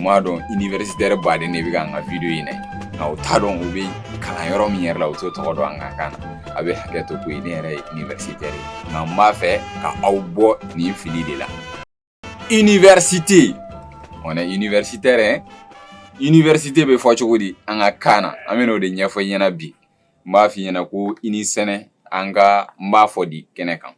n b'a dɔn iniwɛrisitɛri baden de bɛ ka an ka wideyo in lajɛ nka u t'a dɔn u bɛ kalan yɔrɔ min yɛrɛ la u t'o tɔgɔ dɔn an ka kan na aw bɛ hakɛ to koyi ne yɛrɛ ye iniwɛrisitɛri ye nka n b'a fɛ ka aw bɔ nin fili de la iniwɛrisite on est universitaire hein université bɛ fɔ cogo di an ka kan na an bɛna o de ɲɛfɔ i ɲɛna bi n b'a f'i ɲɛna ko i ni sɛnɛ an kan b'a fɔ di kɛnɛ kan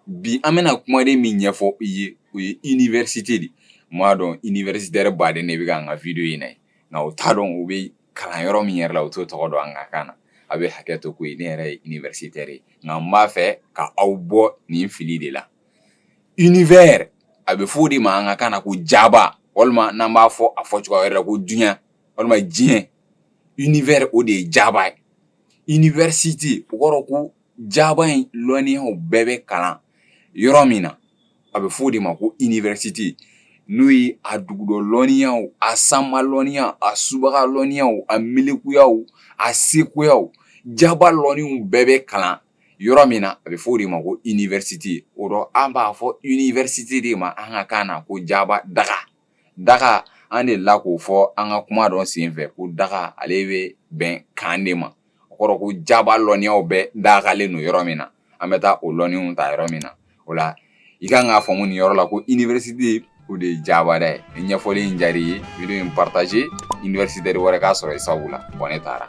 bi an bɛna kumaden min ɲɛfɔ i ye o ye iniwɛrisite de n b'a dɔn iniwɛrisitɛri baden de bɛ ka an ka wideyo in lajɛ nka u t'a dɔn u bɛ kalan yɔrɔ min yɛrɛ la u t'o tɔgɔ dɔn an ka kan na aw bɛ hakɛ to koyi ne yɛrɛ ye iniwɛrisitɛri ye nka n b'a fɛ ka aw bɔ nin fili de la univers a bɛ fɔ o de ma an ka kan na ko jaba walima n'an b'a fɔ a fɔ cogoya yɛrɛ ko duniya walima diɲɛ univers o de ye jaba ye iniwɛrisite o kɔrɔ ko jaba in lɔnniyaw bɛɛ bɛ kalan yɔrɔ min na a bɛ fɔ o de ma ko iniwɛrisite n'o ye a dugudɔ lɔnniyaw a sanma lɔnniyaw a subaga lɔnniyaw a miirikoyaw a sekoyaw jaba lɔnniw bɛɛ bɛ kalan yɔrɔ min na a bɛ fɔ o de ma ko iniwɛrisite o dɔ an b'a fɔ iniwɛrisite de ma an ka kan na ko jaba daga daga an delila k'o fɔ an ka kuma dɔ senfɛ ko daga ale bɛ bɛn camp de ma o kɔrɔ ko jaba lɔnniyaw bɛɛ dagalen don yɔrɔ min na an bɛ taa o lɔnniw ta yɔrɔ min na o la i kan k'a faamu nin yɔrɔ la ko université o de ye jaba daga ye ni ɲɛfɔli in diyara i ye video in partager universitaire wɛrɛ k'a sɔrɔ i sabu la bon ne taara